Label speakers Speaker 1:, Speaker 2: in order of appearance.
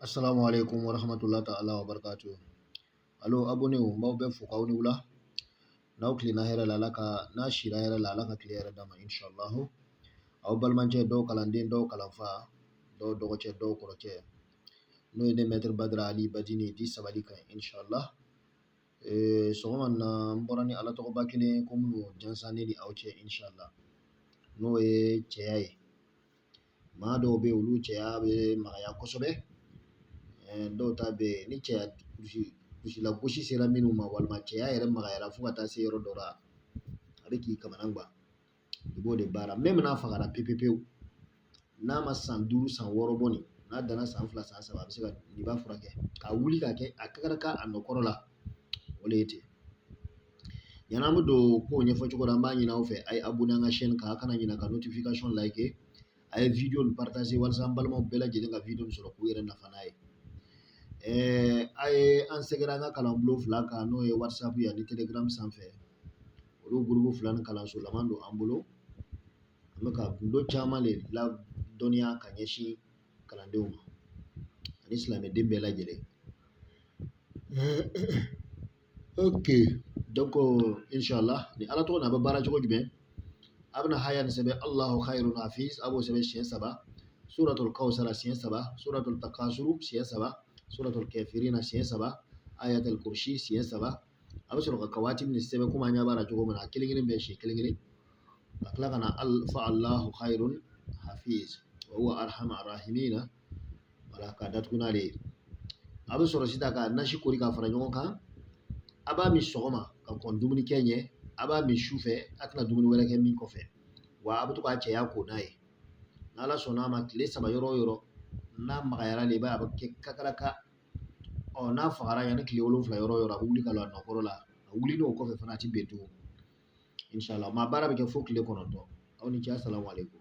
Speaker 1: Assalamu alaikum wa rahmatullahi ta'ala wa barakatuh. Alo abonew n b'aw bɛɛ fo k'aw ni wula n'aw tilenna hɛrɛ la ala ka n'aw sira hɛrɛ la ala ka tile hɛrɛ d'aw ma inshallahu aw balimacɛ dɔw kalanden dɔw kalanfa dɔw dɔgɔcɛ dɔw kɔrɔcɛ n'o ye ne mɛtiri badara ali badini di sabali kan inshallah ee, sɔgɔma na n bɔra ni ala tɔgɔba kelen ko n bɛn'o jansan ne ni aw cɛ inshallah n'o ye cɛya ye maa dɔw bɛ yen olu cɛya bɛ magaya kosɛbɛ dɔw ta bɛ yen ni cɛya lagosi sera minnu ma walima cɛya yɛrɛ magayara fo ka taa se yɔrɔ dɔ la a bɛ k'i kamana gan i b'o de baara même n'a fagara pewu pewu pewu n'a ma san duuru san wɔɔrɔ bɔ nin n'a danna san fila san saba a bɛ se ka n'i b'a furakɛ ka wuli ka kɛ a kakaraka a nɔ kɔrɔ la o de ye ten Yanni an bɛ don ko ɲɛfɔ cogo la, an b'a ɲini aw fɛ a ye abonné an ka chaîne kan, a kana ɲina ka notification liké a ye video in partagé walasa an balimaw bɛɛ lajɛlen ka video in sɔrɔ k'u yɛrɛ nafa n'a ye. Ɛɛ a ye an sɛgɛrɛ an ka kalan bulon fila kan n'o ye whatsapp ye ani telegram sanfɛ. Olu groupe fila nin kalanso lama don an bolo. An bɛ ka gundo caman de ladɔnniya ka ɲɛsin kalandenw ma ani silamɛden bɛɛ lajɛlen. ok donc inshallah ni ala tɔgɔ n'a bɛ baara cogo jumɛn a bɛna haya nin sɛbɛn allahu khairu hafiz a b'o sɛbɛn siɲɛ saba suratul kawsara siɲɛ saba suratul takasuru siɲɛ saba suratul kafirina siɲɛ saba ayatul kursi siɲɛ saba a bɛ sɔrɔ ka kawatimu nin sɛbɛn komi an ɲɛ b'a la cogo min na a kelen kelen bɛɛ siɲɛ kelen kelen ka tila ka na fa allahu khairun hafiz wa huwa arhamar rahimina wala k'a datugu n'ale ye a bɛ sɔrɔ sisan ka nasi kori ka fara ɲɔgɔn kan a b'a min sɔgɔma ka kɔn dumuni kɛ ɲɛ a b'a min su fɛ a tɛna dumuni wɛrɛ kɛ min kɔfɛ wa a bɛ to k'a cɛya ko n'a ye n'ala sɔnna a ma tile saba yɔrɔ o yɔrɔ n'a magayara de i b'a ye a bɛ kɛ kakaraka ɔ n'a fagara yanni tile wolonwula yɔrɔ o yɔrɔ a bɛ wuli ka don a nɔkɔrɔ la a wulilen kɔfɛ fana a tɛ bin tugun inshallah maa baara bɛ kɛ fo tile kɔnɔntɔn aw ni ce asalamu aleykum